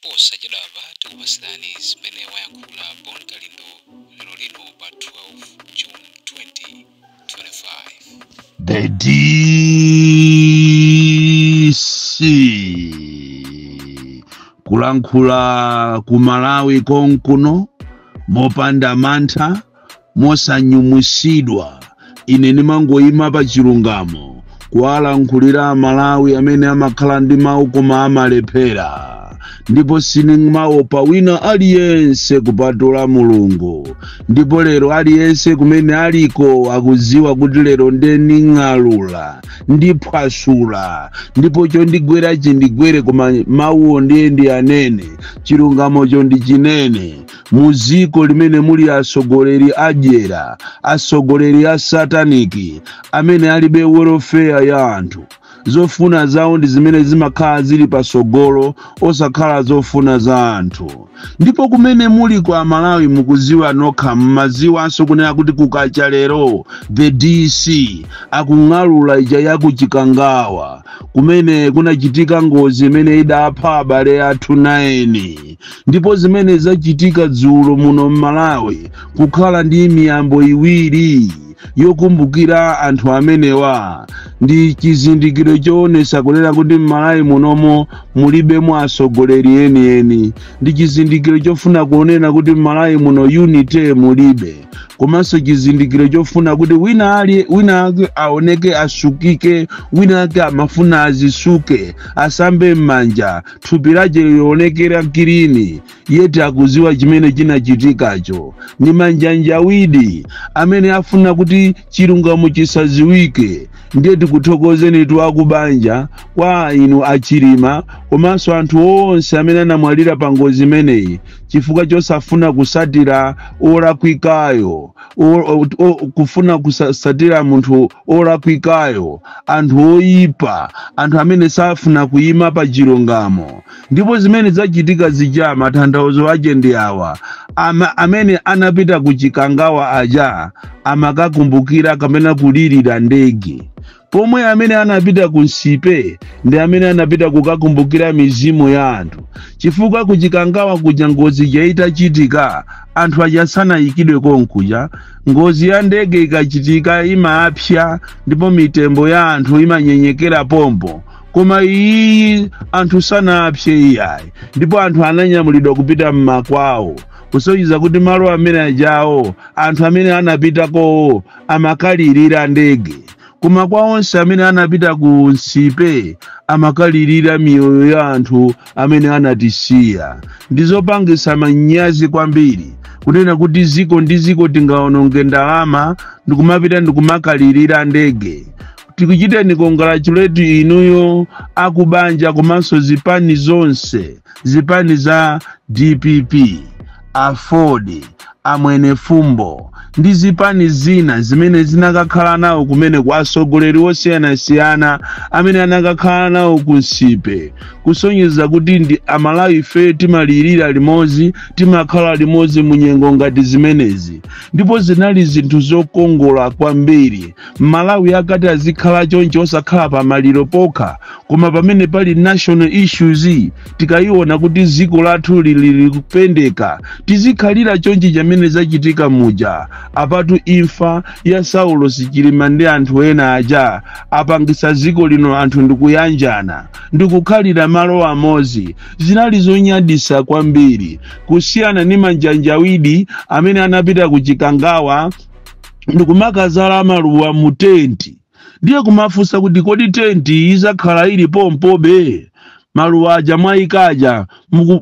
Posachedwapa tikupatsirani zimene wayankhula Bon Kalindo lero lino pa 12 June 2025. The DC kulankhula ku Malawi konkuno mopanda mantha mosanyumwisidwa ine ndimangoima pa chilungamo kuwalankhulira amalawi amene amakhala ndi mawu koma amalephera ndipo sindikumaopa wina aliyense kupatula mulungu ndipo lero aliyense kumene aliko akudziwa kuti lero nde nding'alula ndiphwasula ndipo chondigwera chindigwere koma mawuwo ndiye ndiwanene chilungamocho ndichinene Mu dziko limene muli atsogoleri adyera, atsogoleri a sataniki amene alibe welfare ya anthu, zofuna zawo ndi zimene zimakhala zili patsogolo osakhala zofuna za anthu. Ndipo kumene muliko Amalawi mukudziwa nokha mmadziwanso kunena kuti kukacha lero the DC akung'alula ija ya ku Chikangawa kumene kunachitika ngozi imene idapha abale athu 9 ndipo zimene zachitika dzulo muno m'malawi kukhala ndi miyambo iwiri yokumbukira anthu amenewa ndi chizindikiro choonesa kunena kuti m'malawi munomo mulibemo atsogoleri enieni ndi chizindikiro chofuna kuonetsa kuti m'malawi muno unity mulibe komanso chizindikiro chofuna kuti wina ali wina ake aoneke asukike wina ake amafuna azisuke asambe m'manja thupi lake lionekere clean, yet akuziwa chimene chinachitikacho. Ni manjanjawidi amene afuna kuti chilungamo chisaziwike. Ndiye tikuthokozenitu akubanja kwa inu a Chilima komanso anthu onse amene anamwalira pa ngozi imeneyi chifukwa chosafuna kusatira olakwikayo o- o- o- kufuna kusatira munthu olakwikayo anthu oyipa anthu amene safuna kuyima pa chilungamo ndipo zimene zachitika zija matanthauzo ache ndi awa, amene anapita ku chikangawa aja amakakumbukira kapena kulirira ndege pomwe amene anapita ku nsipe ndi amene anapita kukakumbukira mizimu ya anthu chifukwa kuchikangawa kuja ngozi ija itachitika anthu aja sanayikidwe konkuja Ngozi ya ndege ikachitika imapsa ndipo mitembo ya anthu imanyenyekera pompo, koma iyi anthu sanapse iyayi, ndipo anthu ananyamulidwa kupita m'makwawo kusonyeza kuti malo amene ajawo anthu amene anapitakowo amakalirira ndege Koma kwa onse amene anapita ku nsipe amakalirira miyoyo ya anthu amene anatisiya. Ndi zopangisa manyazi kwambiri kunena kuti ziko ngati ziko tingaononge ndalama ndikumapita ndikumakalirira ndege. Tikuchiteni congratulate inuyo akubanja komanso zipani zonse, zipani za DPP, aford, a Mwenefumbo ndi zipani zina zimene zinakakhala nawo kumene kwa atsogoleri osiyanasiyana amene anakakhala nawo ku nsipe kusonyeza kuti ndi amalawife timalirira limodzi timakhala limodzi mu nyengo ngati zimenezi ndipo zinali zinthu zokongola kwambiri malawi akati azikhala choncho osakhala pa maliro pokha koma pamene pali national issues tikayiona kuti dziko lathu lili kupendeka tizikhalira chonchi chamene zachitika muja apatu imfa ya saulosi chilima ndi anthu ena aja apangisa dziko lino anthu ndikuyanjana ndikukhalira malo amodzi zinali zonyadisa kwambiri kusiyana ndi manjanjawidi amene anapita ku chikangawa ndikumakazala maluwa mu tenti ndiye kumafunsa kuti kodi tenti izakhala ili pompobe maluwa aja mwayikaja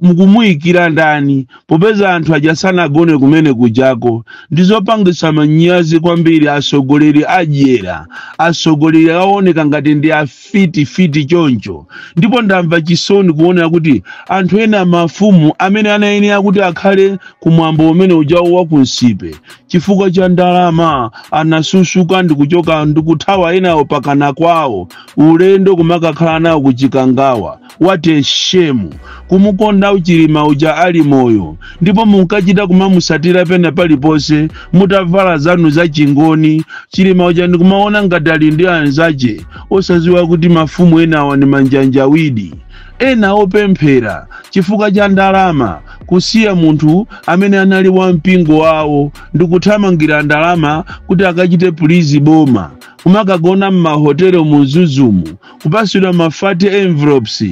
mukumuyikira ndani popeza anthu aja sanagone kumene kujako ndizopangisa manyazi kwambiri atsogoleri adyera atsogoleri aoneka ngati ndi afitifiti choncho ndipo ndamva chisoni kuona kuti anthu ena mafumu amene anayenera kuti akhale kumwambo umene ujawo wakunsipe chifukwa cha ndalama anasusuka ndikuchoka ndikuthawa enawo pakana kwawo ulendo kumakakhala nawo kuchikangawa what a shame kumukonda chilima uja ali moyo ndipo munkachita kumamusatira pena paliponse mutavala zanu za chingoni chilima uja ndikumaona ngati ali ndi anzache osaziwa kuti mafumu enawa ndi manjanjawidi Ena opemphera chifukwa cha ndalama kusiya munthu amene anali wa mpingo wawo ndikuthamangira ndalama kuti akachite pulizi boma, kumakagona m'mahotelo mu Mzuzumu, kupasidwa ma fat envelopes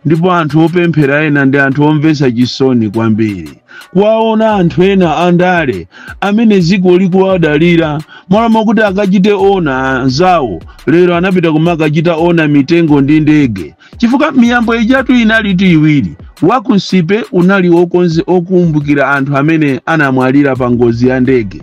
ndipo anthu opemphera ena ndi anthu omvetsa chisoni kwambiri. Kuwaona anthu ena andale amene dziko likuwadalira malo mokuti akachite ona anzawo lero anapita kumakachita ona mitengo ndi ndege chifukwa miyambo ijatu inalitu iwiri wakunsipe unali wokonze okumbukira anthu amene anamwalira pa ngozi ya ndege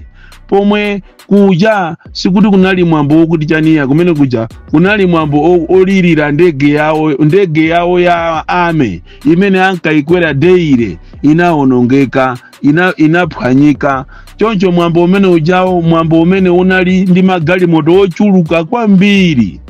pomwe kuja sikuti kunali mwambo wokuti chaniya kumene kuja kunali mwambo o- olirira ndege yawo ndege yawo ya army imene ankayikwera daily inawonongeka ina, inaphwanyika choncho mwambo umene ujawo mwambo umene unali ndi magalimoto ochuluka kwambiri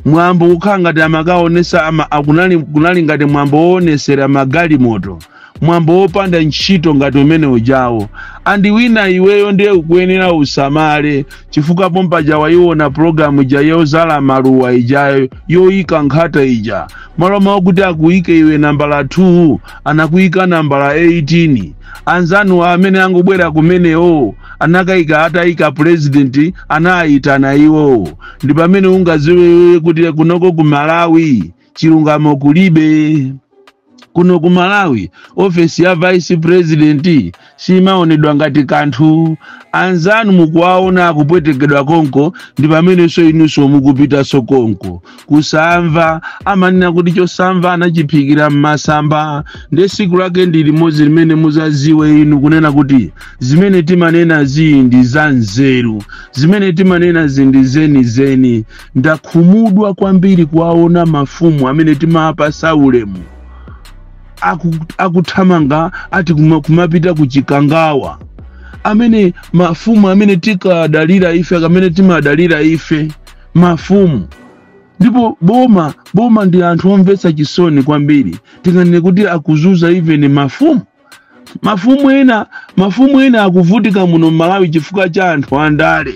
mwambo kukhala ngati amakaonesa ama, akunali, kunali ngati mwambo woonesera magalimoto mwambo wopanda ntchito ngati umene ujawo andi wina iweyo ndiye ukuyenera usamale chifukwa pompaja wayiona pulogalamu ija yozala maluwa ijayo yoyika nkhata ija malo mwakuti akuyike iwe nambala 2 anakuyika nambala 18 anzanu amene angobwera kumenewo anakayika atayika pulezidenti anayitana iwowo ndi pamene ungaziwe kuti kunoko ku malawi chilungamo kulibe kuno ku malawi ofesi ya vice president simaonedwa ngati kanthu anzanu mukuwaona akupwetekedwa konko ndi pamenenso inunso mukupitanso konko kusamva amanena kuti chosamva anachiphikira m'masamba nde siku lake ndi limodzi limene muzaziwe inu kunena kuti zimene timanenazi ndi za nzeru zimene timanenazi ndi zenizeni ndakhumudwa kwambiri kuwaona mafumu amene timawapasa ulemu aku- akuthamanga ati kuma- kumapita ku chikangawa amene mafumu amene tikadalira ife amene timadalira ife mafumu ndipo boma boma ndi anthu omvetsa chisoni kwambiri tinganene kuti akuzuza even mafumu mafumu ena mafumu ena akuvutika muno mmalawi chifukwa cha anthu andale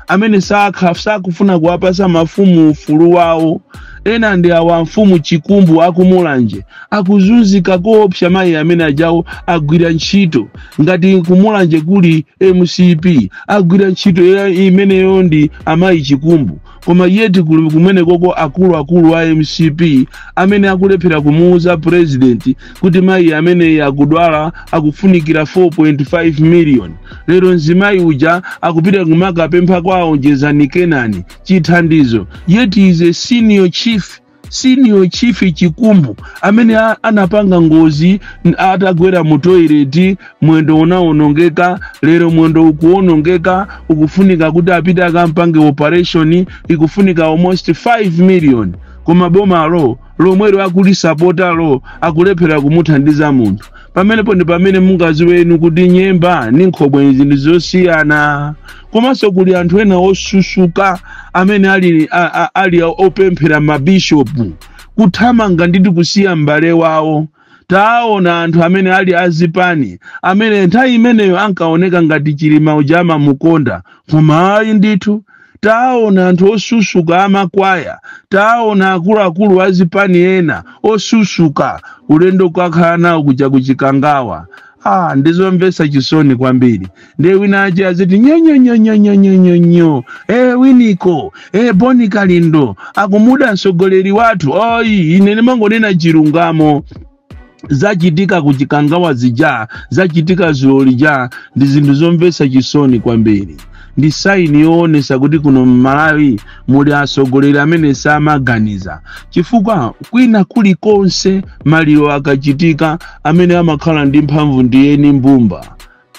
amene sakha sakufuna kuwapasa mafumu ufulu wawo ena ndi awa mfumu chikumbu akumulanje akuzunzika koopsa mayi amene ajawo agwira ntchito ngati kumulanje kuli mcp agwira ntchito ya- imeneyo ndi amayi chikumbu koma yeti kuli kumenekoko akuluakulu a mcp amene akulephera kumuuza purezidenti kuti mayi ameneyi akudwala akufunikira 4.5 miliyoni lero mzimayi uja akupita kumakapempha kwa onjezani kenani chithandizo yeti is a senior chief senior chief chikumbu amene a- anapanga ngozi n- atagwera mu toilet mwendo unaonongeka lero mwendo ukuonongeka ukufunika kuti apite akampange operation ikufunika almost 5 million koma bomalo lomwero akulisapotalo akulephera kumuthandiza munthu pamenepo ndi pamene mungaziwenu kuti nyemba ndi nkhobwe nzinthu zosiyana komanso kuli anthu ena osusuka amene ali, a, a, ali opemphera mabishopu kuthamanga nditi kusiya m'bale wawo taona anthu amene ali azipani amene nthawi imeneyo ankaoneka ngati chilima uja amamukonda koma ayi ndithu taona anthu osusuka amakwaya taona akuluakulu a zipani ena osusuka ulendo kakhala nawo kuja kuchikangawa ah ndizomvetsa chisoni kwambiri nde wina ache aziti nyonyonyonyonyonyonyo e winiko e boni kalindo akumuda mtsogoleri wathu ayi ine ndimangonena chilungamo zachitika kuchikangawa zija zachitika zulo lija ndi zinthu zomvetsa chisoni kwambiri ndi saini yoonesa kuti kuno Malawi muli atsogoleri amene samaganiza chifukwa kwina kulikonse maliro akachitika amene amakhala ndi mphamvu ndi eni mbumba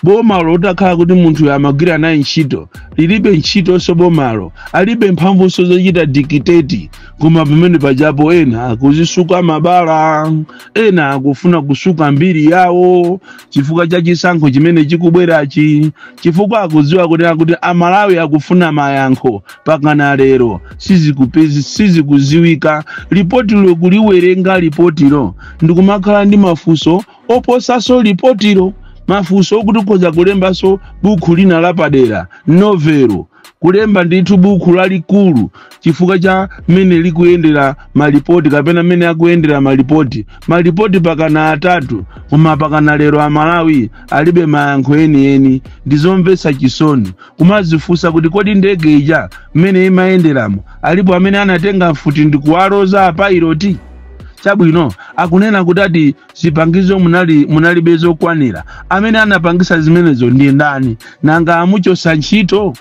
bomalo litakhala kuti munthuyo amagwira naye ntchito lilibe ntchitonso bomalo alibe mphamvunso zochita dikiteti koma pamene pajapo ena akuzisuka mabala ena akufuna kusuka mbiri yawo chifukwa cha chisankho chimene chikubwerachi chifukwa akudziwa kuti amalawi akufuna mayankho pakana lero sizikuziwika lipotilo kuliwerenga lipotilo ndikumakhala ndi mafunso oposaso lipotilo mafunso okuti ukhoza kulembaso bukhu lina lapadera novelo kulemba ndithu bukhu lalikulu chifukwa cha mmene likuyendera malipoti kapena mmene akuyendera malipoti malipoti pakana atatu koma pakana lero amalawi alibe mayankho enieni ndizomvetsa chisoni kumazifunsa kuti kodi ndege ija mmene imayenderamo alipo amene anatenga mfuti ndikuwaloza apailoti chabwino akunena kuti ati zipangizo munalibe zokwanira amene anapangisa zimenezo ndi ndani nanga amuchosa ntchito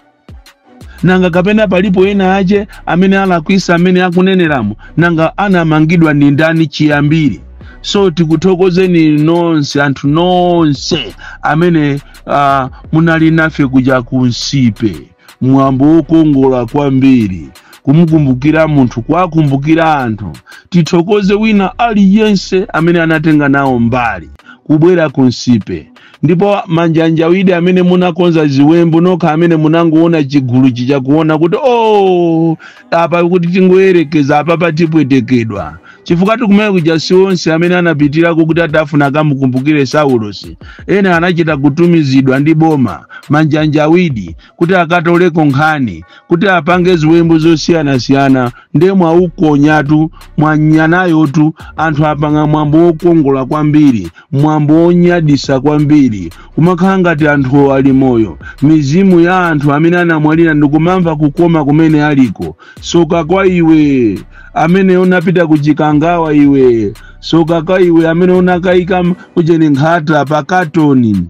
nanga kapena palipo ena ache amene alakwisa amene akuneneramo nanga anamangidwa ndi ndani chiyambire so tikuthokozeni nonse anthu nonse amene uh, munali nafe kuja kunsipe mwambo wokongola kwambiri kumukumbukira munthu kuwakumbukira anthu tithokoze wina aliyense amene anatenga nawo mbali kubwera ku nsipe ndipo manjanjawidi amene munakonza ziwembu nokha amene munangoona chiguluchi chakuonani kuti o oh, apa kuti tingoyerekeza apa patipwetekedwa chifukwa tikumenya kuja si onse amene anapitirako kuti atafuna akamukumbukire saulosi ena anachita kutumizidwa ndi boma manjanjawidi kuti akatoleko nkhani kuti apange ziwembu zosiyanasiyana nde mwaukonyatu mwanyanayotu anthu apanga mwambo wokongola kwambiri mwambo wonyadisa kwambiri Kumakhala ngati anthuwo ali moyo, mizimu ya anthu amene anamwalira ndikumamva kukoma kumene aliko. Soka kwa iwe amene unapita ku Chikangawa iwe, soka kwa iwe amene unakayika ujeni nkhata pa katoni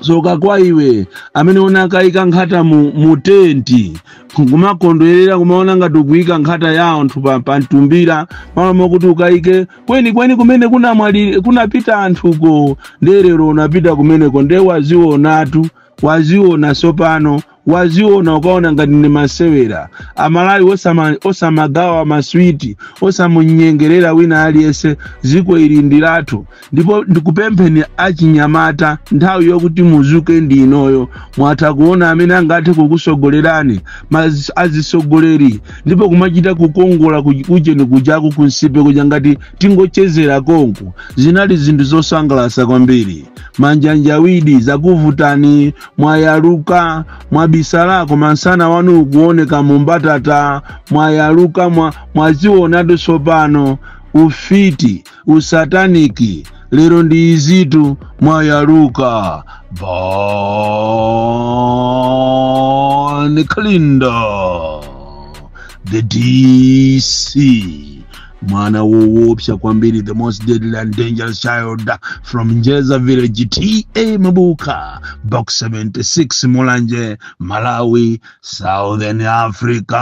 soka kwa iwe amene unakayika nkhata mu, mu tenti kumakondwerera kumaona ngati ukuyika nkhata ya anthu pa, pa mtumbira malo mokuti ukayike kweni kweni kumene kunamwali kunapita anthuko nde lero unapita kumeneko nde wazionatu waziona sopano waziona ukaona ngati ndi masewera Amalawi osama- osamagawa maswiti osamunyengerera wina aliyense ziko ili ndi lathu ndipo ndikupempheni achinyamata nthawi yokuti muzuke ndi inoyo mwatha kuona amene angathe kukusogolerani Mas- azisogoleri ndipo kumachita kukongola ku- kujeni kujaku kunsipe kuja ngati tingochezera konko zinali zinthu zosangalatsa kwambiri manjanjawidi zakuvutani mwayaluka mwabisalako mansana wanu ukuoneka mumbatata mwayaluka mwa, mwaziwonatu tsopano ufiti usataniki lero ndi izitu mwayaluka bon kalindo the dc mwana wowopsa kwambiri the most deadly and dangerous child from njeza village ta mabuka box 76 mulanje malawi southern africa